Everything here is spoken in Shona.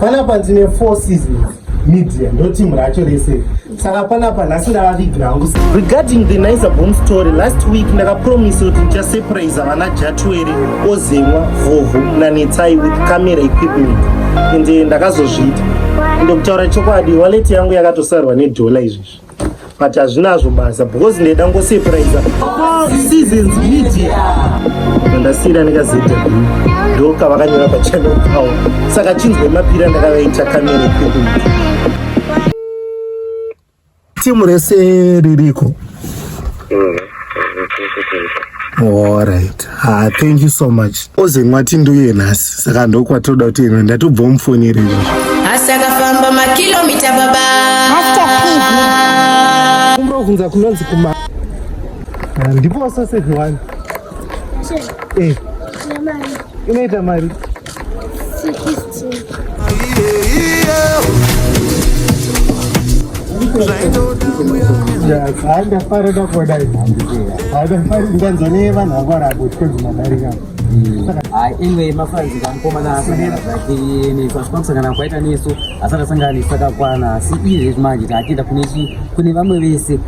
panapa ndine four seasons media ndo team racho rese saka panapa nhasi ndavavigira hangu regarding the nicer bom story last week ndakapromisa kuti ndichasurprise vana jatwere ozemwa vhovhu nanetsai with camera equipment ende ndakazozviita ndokutaura chokwadi waleti yangu yakatosarwa nedhola izvezvi but hazvinazvo basa because ndaida ngosurprise seasons media ndasiyira nekazw ndoka vakanyora pachannel pavo saka chinzwe mapira ndakavaita kamera pedu timu rese ririko Alright. Ah, thank you so much. Oze mwati nduye nhasi. Saka ndokwatoda kuti ino ndatobva mufonere izvo. Asi akafamba makilomita baba. Kumro kunza kunonzi kuma. Ah, ndipo sausage one. Eh. Inoita mari. ndafara ndakuona ndafara ndanzwa nevanhu vangu varabotwe dzimadarika anyway mafanzi kamukomana asangana zvake nesu asi pakusangana kwaita nesu asati asangana nesu takakwana asi iye zvezvi manje taakuenda kune vamwe vese